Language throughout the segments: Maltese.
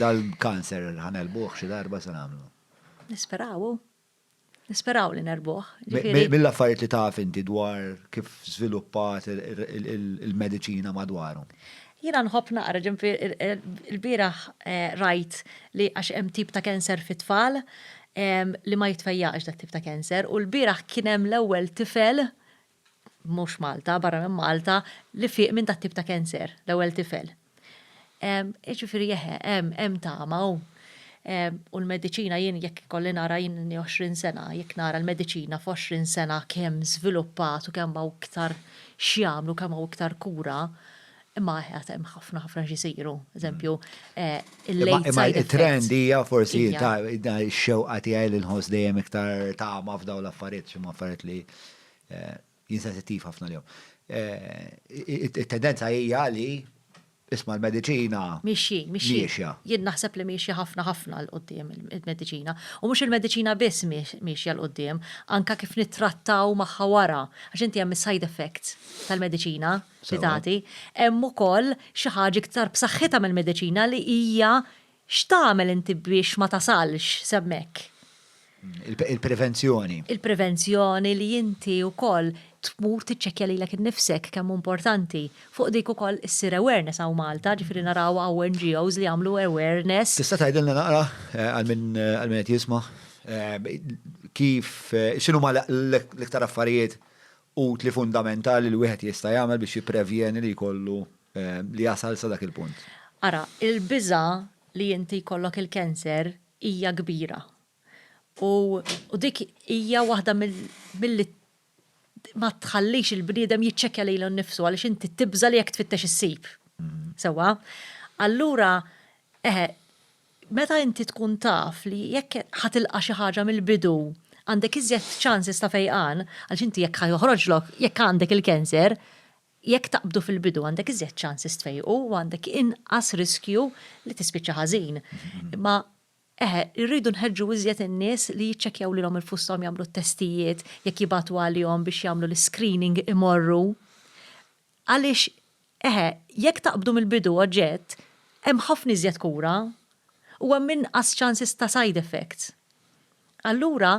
Dal-kanser ħa negħlbuh xi darba se nagħmlu? Nisperaw hu. Nisperaw li negħlbuh. Mill-affarijiet li taf inti dwar kif żviluppat il-mediċina madwaru? Jiena nħobb naqra, ġifieri l-bieraħ rajt li għax hemm tip ta' kanser fit-tfal li ma jitfejjaqx dat-tip ta' kanser u l-bieraħ kien hemm l-ewwel tifel mhux Malta, barra minn Malta, li fieq minn dat-tip ta' cancer, l-ewwel tifel. Jiġifieri eħe, hemm, hemm tama u u l-mediċina jien jekk ikolli nara jien inni 20 sena, jekk nara l-mediċina f'għoxrin sena kemm żviluppat u kemm hawn iktar x'jagħmlu, kemm hawn iktar kura, imma eħe għad hemm ħafna ħafna x'isiru. Eżempju, il-late side effects. Imma it-trend hija forsi ta' x-xewqa tiegħi li nħoss dejjem iktar tama f'dawn l-affarijiet x'imma affarijiet li Jien sensittiv ħafna l-jom. It-tendenza hija li isma l-medicina. Miexjin, miexjin. Jien naħseb li miexja ħafna ħafna l-qoddim il-medicina. U mhux il-medicina biss miexja l-qoddim, anke kif nittrattaw magħha wara. Għax inti hemm is-side effects tal-medicina li tagħti, hemm ukoll xi ħaġa iktar b'saħħitha mill-medicina li hija X'tagħmel inti biex ma tasalx s'hemmhekk? Il-prevenzjoni. Il-prevenzjoni li inti wkoll tmur tiċċekkja lilek innifsek kemm hu importanti. Fuq dik ukoll issir awareness hawn Malta, ġifieri naraw hawn NGOs li jagħmlu awareness. Tista' tgħidilna naqra, għal min qed jisma', kif, x'inhuma l-iktar affarijiet utli fundamentali li wieħed jista' jagħmel biex jipprevjeni li jkollu Eh, li jasal sa dak il-punt. Ara, il-biża li inti jkollok il-kanser hija kbira. U, u dik hija waħda mill-li ma tħallix il-bniedem jiċċekja lejlu nnifsu għaliex inti tibża li jekk tfittex issib. Mm. Sewa. Allura, eħe, meta inti tkun taf li jekk ħatilqa xi ħaġa mill-bidu għandek iżjed ċansis ta' fejqan, għaliex inti jekk ħajoħroġlok, jekk għandek il-kanser, Jekk taqbdu fil-bidu għandek iżjed ċansis tfejqu u għandek inqas riskju li tispiċċa ħażin. Imma eħe, irridu nħeġġu iżjed in-nies li jiċċekkjaw lilhom infusshom jagħmlu t-testijiet, jekk jibagħtu għalihom biex jagħmlu l-iscreening imorru. Għaliex eħe, jekk taqbdu mill-bidu oġġett, hemm ħafna iżjed kura u hemm inqas ċansis ta' side effects. Allura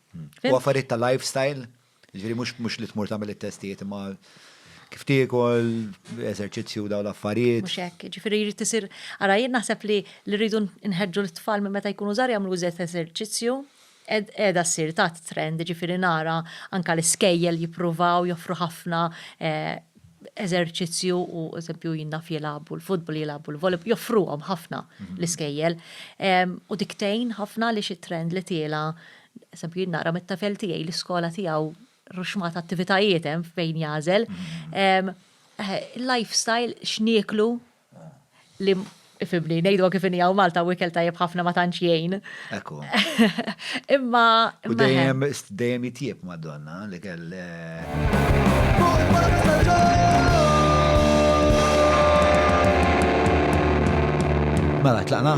U affarijiet ta' lifestyle, ġifieri mhux li tmur tagħmel it-testijiet imma kif tiekol, eżerċizzju daw l-affarijiet. Mhux hekk, ġifieri jrid isir ara jien naħseb li li rridu nħeġġu lit-tfal minn meta jkunu żgħar jagħmlu iżjed eżerċizzju, qiegħda ssir ta' trend, ġifieri nara anke l-iskejjel jippruvaw joffru ħafna eżerċizzju u eżempju jien naf jilagħbu l-futbol, jilagħbu l-volleyball, joffruhom ħafna l-iskejjel. U dik tgħin ħafna li xi trend li tiela, eżempju jien nara mit-tafel tiegħi l-iskola tiegħu ruxmat attivitajiet hemm fejn jagħżel. Lifestyle x'nieklu Ifhimni, ngħiduha kif inhi hawn Malta u ikel tajjeb ħafna ma tantx jgħin. Ekku. Imma. U dejjem dejjem jitjieb Madonna li kell. Mela tlaqna.